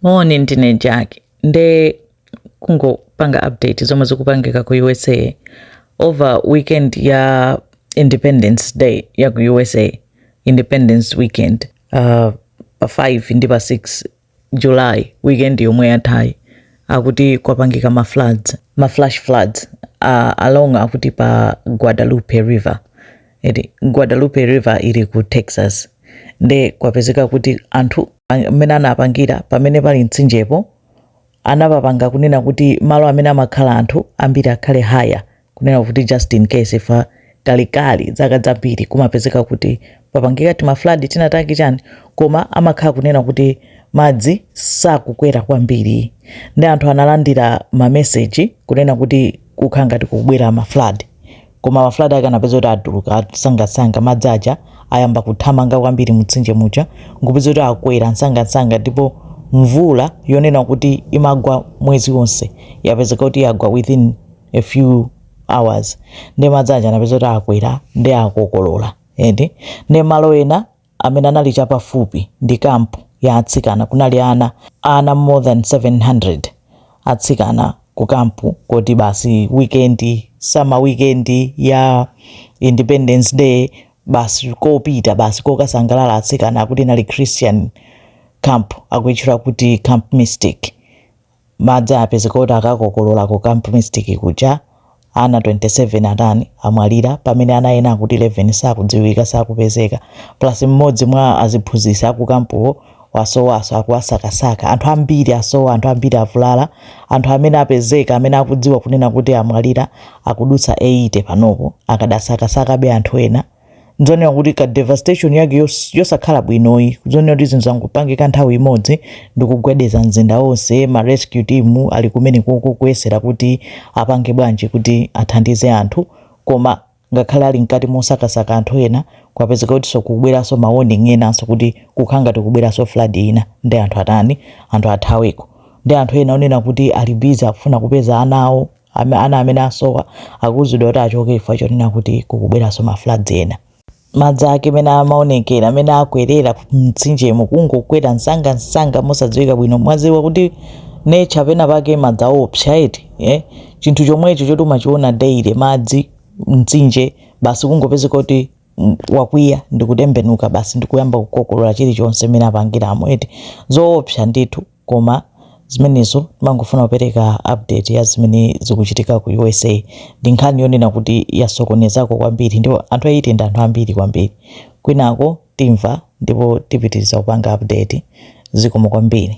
moni ndine jack nde kungopanga update zomwe zikupangika ku usa over weekend ya independence day ya ku usa independence weekend uh, pa 5 ndi pa 6 july weekend yomwe yathayi akuti kwapangika ma floods ma flash floods uh, along akuti pa guadalupe river eti guadalupe river ili ku texas nde kwapezeka kuti anthu amene anapangira pamene pali mtsinjepo anapapanga kunena kuti malo amene amakhala anthu ambiri akhale higher kunena kuti just in case chifukwa kalekale zaka zambiri kumapezeka kuti papangika tima flood tinatake chani koma amakhala kunena kuti madzi sakukwera kwambiri ndi anthu analandira mameseji kunena kuti kukhala ngati kukubwera ma flood koma ma flood ake anapeza kuti atuluka msangamsanga madzi aja ayamba kuthamanga kwambiri mumtsinje muja nkupeza kuti akwera msangamsanga ndipo mvula yonena kuti imagwa mwezi wonse yapezeka kuti yagwa within a few hours nde madzi aja anapeza kuti akwera ndi akokolola ende nde malo ena amene anali chapafupi ndi camp ya atsikana kunali ana ana more than 700 atsikana ku camp kuti basi weekend summer weekend ya independence day basi kopita basi kokasangalala atsikana akuti inali christian camp akuitchula kuti camp mystic Madzi apezeka kuti akakokolola ku camp mystic kuja, ana 27 atani, amwalira pamene ana ena akuti 11 sakudziwika, sakupezeka plus mmodzi mwa aziphunzitsi aku camp-wo wasowaso akuwasakasaka, anthu ambiri asowa, anthu ambiri avulala, anthu amene apezeka amene akudziwa kunena kuti amwalira akudutsa 80 panopo, akadasakasakabe anthu ena. nzoonera kuti ka devastation yake yos- yosakhala bwinoyi zoonera kuti zinthu zangopangika nthawi imodzi ndi kugwedeza mzinda wonse ma rescue team ali kumene koko kuyesera kuti apange bwanji kuti athandize anthu koma ngakhale ali mkati mosakasaka anthu ena kwapezeka kutinso kubweranso ma warning enanso kuti kukhala ngati kubweranso flood ina ndi anthu atani anthu athaweko ndi anthu ena onena kuti ali busy akufuna kupeza ana awo Ame- ana amene asowa akuuzidwa kuti achoke chifukwa chonena kuti kukubweranso ma floods ena madzi ake mene amaonekera mene akwerera mtsinjemo kungokwera msanga msanga mosadziwika bwino mwadziwa kuti nature pena pake madzi aopsa eti eh? chinthu chomwecho choti umachiona daily madzi mtsinje basi kungopezeka kuti mm, wakwiya ndikutembenuka basi ndikuyamba kukokolola chilichonse mene apangiramo eti zoopsa ndithu koma zimenezo timangofuna kupereka update ya zimene zikuchitika ku usa ndi nkhani yonena kuti yasokonezako kwambiri ndipo anthu 80 ndi anthu ambiri kwambiri kwinako timva ndipo tipitiriza kupanga update zikomo kwambiri